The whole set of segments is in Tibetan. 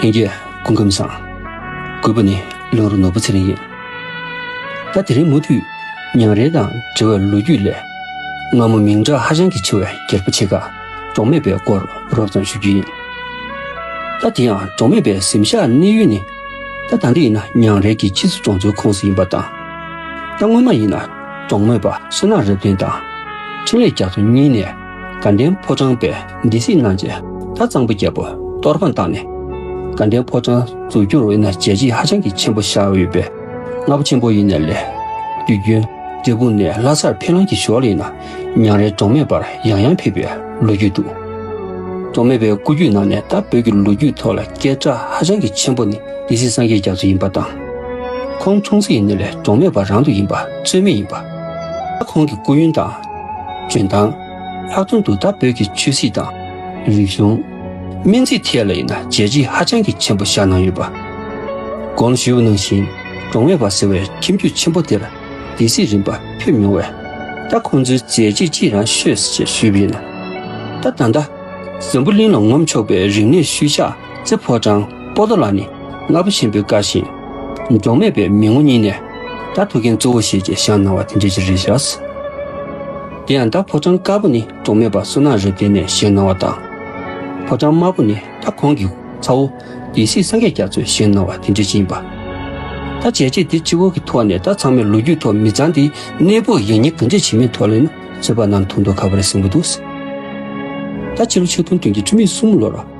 ལྷན་རྒྱས་སྐུ་ཁམས་བཟང། དགོས་པ་ནི་བློན་རོ་ནོར་བུ་ཚེ་རིང་ཡིན། ད་དེ་རིང་མུ་མཐུད་ཉང་རལ་དང་འབྲེལ་བའི་ལོ་རྒྱུས་ལས། སྔ་མོ་མིང་གྲགས་ཧ་ཅང་གི་ཆེ་བའི་རྒྱལ་པོ་ཆེ་ཁག་འབྲོག་མེད་པའི་སྐོར་རོབ་ཙམ་ཞུ་རྒྱུ་ཡིན། ད་དེ་ཡང་འབྲོག་མེད་པའི་གཟིམ་ཤག་གནས་ཡུལ་ནི། ད་ད་འདི་ཡིན་ན་ཉང་རལ་གྱི་ཕྱིས་སུ་གྲོང་ཚོའི་ཁོངས་སུ་ཡིན་པ་དང། ད་སྔོན་མ་ཡིན་ན་འབྲོག་མོད་པ་བསོད་ནག་རབ་བརྟན་དང། འཕྲིན་ལས་རྒྱ་མཚོ་གཉིས་ནས། དགའ་ལྡན་ཕོ་བྲང་པས་སྡེ་སྲིད་གནང་རྗེས་ད་གཙང་པོ་རྒྱལ་པོ་གཏོར་དཔང་བཏང་ནས་དགའ་ལྡན་ཕོ་བྲང་འཛུགས་རྒྱུར་དབུས་ན་བྱས་རྗེས་ཧ་ཅང་གི་ཆེན་པོ་བཞག་འོས་པས་རྔ་པ་ཆེན་པོ་ཡིན་ནས་ལས། དུས་རྒྱུན་འབྲས་སྤུངས་ནས་ལྷ་སར་ཕེབས་ལམ་གྱི་ཞོར་ཡིན་ན་ཉང་རལ་འབྲོག་མེད་པར་ཡང་ཡང་ཕེབས་པའི་ལོ་རྒྱུས་འདུག། འབྲོག་མེད་པའི་སྐུ་རྒྱུད་ནང་ནས་ད་བོད་ཀྱི་ལོ་རྒྱུས་ཐོག་ལ་སྐད་གྲགས་ཧ་ཅང་གི་ཆེན་པོ་ནི་སྡེ་སྲིད་སངས་རྒྱས་རྒྱ་མཚོ་ཡིན་པ་དང། ཁོང་འཁྲུངས་ཚེ་ཡིན་ནས་ལས་འབྲོག་མེད་པ་རང་དུ་ཡིན་པ་ཚོད་མེད་ཡིན་པ། ཁོང་གི་སྐུ་ཡོན་དང། འཇོན་ཐང། ལྷག་དོན་དུ་ད་བོད་ཀྱི་ཆོས་སྲིད་དང། རིག་གཞུང། སྨན་རྩིས་ཐད་ལ་ཡིན་ན་བརྗེད་གཞི་ཧ་ཅང་གི་ཆེན་པོ་བཞག་གནང་ཡོད་པ། གོང་ཞུས་པ་ནང་བཞིན་འབྲོང་བན་བ་ཟེར་བའི་ཁྱིམ་རྒྱུད་ཆེན་པོ་དེར་སྡེ་སྲིད་རིམ་པ་ཕེབས་མྱོང་བས། ད་ཁོང་ཚོའི་མཛད་རྗེས་ཅི་ཡང་ཤོད་སྲིད་ཅེས་ཞུས་པ་ཡིན། ད་ད་ལྟ། འཛམ་བུ་གླིང་ལ་ངོམ་ཆོག་པའི་རིག་གནས་ཤུལ་བཞག་རྩེ་ཕོ་བྲང་སྤོ་ཏོ་ལ་ནི་རྔ་པོ་ཆེན་པོའི་བཀའ་བཞིན། འབྲོག་མེད་པའི་མི་ངོ་གཉིས་ནས་རྟ་ཐུག་མཁན་གཙོ་བོ་ཞེས་ཀྱི་ཞང་གནང་བ་དེ་འདྲའི་ཅི་རིགས་བཞག། དེ་ཡང་རྟ་ཕོ་བྲང་དཀར་པོ་ནི་འབྲོག་མེད་པ་བསོད་ནམས་རབ་བརྟན་ནས་ཞེས་གནང་བ་དང། ཕོ་བྲང་དམར་པོ་ནི་རྟ་ཁོང་གི་ཚ་བོ་ཡེ་སྲིད་སངས་རྒྱས་རྒྱ་མཚོས་ཞེས་གནང་བ་དེ་འདྲའི་ཅི་ཡིན་པ། ད་བྱས་རྗེས་འདི་སྤྱི་བོ་གི་ཐོག་ནས་རྟ་ཚང་མའི་ལོ་རྒྱུས་ཐོག་མི་ཚང་འདིའི་གནས་སྤོས་ཡིན་མྱིན་གང་འདྲས་བྱེད་མིན་ཐོག་ལས་ན་ཚོད་དཔག་གནང་ཐུག་མདོག་ཁ་བ་རེ་ཟིང་པོ་འདུག་ད་ཕྱི་ལོ་ཆིག་སྟོང་བདུན་བརྒྱད་ཁྲི་མེད་གསུམ་ལོར།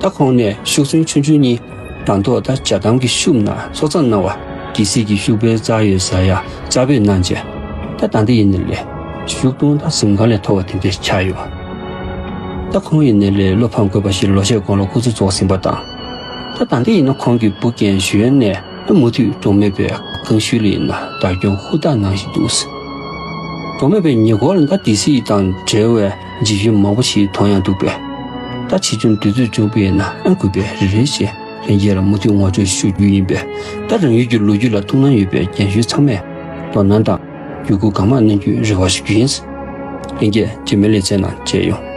ད་ཁོང་ནས་ཤུགས་ཚོན་ཆུང་ཆུང་གཉིས་དང་ཐོག་ད་བྱ་དམ་གྱི་ཤུབས་ན་ཚོགས་གཙང་གནང་བ། ཀྱི་སྲིད་ཀྱི་ཤུགས་འཕེལ་རྩ་ཡོད་ས་ཡ་རྩ་བོད་གནང་བྱས་ད་ད་འདི་ཡི་ནས་ལས་ཞུགས་གཏོང་ད་གཟིམ་གང་ལས་མཐོ་བ་དེ་འདི་ཆགས་ཡོད་ད་ཁོང་ཡི་ནས་ལས་བློ་ཕམ་དགོས་པ་ཞིག་ལོ་ཤས་གོང་ལ་སྐུ་ཚེ་རྫོགས་ཟིན་པ་དང་ད་ད་འདི་ཡི་ནས་ཁོང་གི་བུ་རྒན་གཞོན་ནས་ད་མུ་མཐུད་གྲོང་མེད་པའི་ཀང་ཤུལ་ལ་ཡི་ན་བདག་སྐྱོང་ཧུར་ཐག་གནང་བཞིན་འདུག་གྲོང་མེད་པའི་ཉེ་འཁོར་ལ་ད་འདི་སྲིད་དང་བྲལ་བའི། འཇིགས་ཡུལ་མང་པོ་ཞིག་མཐོང་ཡང་འདུག་པས། ད་ཕྱིས་ཆུང་དུས་ཚོད་ཅུང་སྤེལ་ན་ཨང་དགོས་པས་རེ་རེ་བཞིན་ལྷན་རྒྱས་ལ་མུ་མཐུད་ངོ་སྤྲོད་ཞུ་རྒྱུ་ཡིན་པས། ད་རང་ཡུལ་གྱི་ལོ་རྒྱུས་ལ་ཐུགས་སྣང་ཡོད་པའི་རྒན་གཞོན་ཚང་མས་དོ་སྣང་དང། བརྒྱུད་སྐུར་གང་མང་གནང་རྒྱུའི་རེ་བ་ཞུ་རྒྱུ་ཡིན། ལྷན་རྒྱས་རྗེས་མའི་ལེ་ཚན་ནང་མཇལ་ཡོང།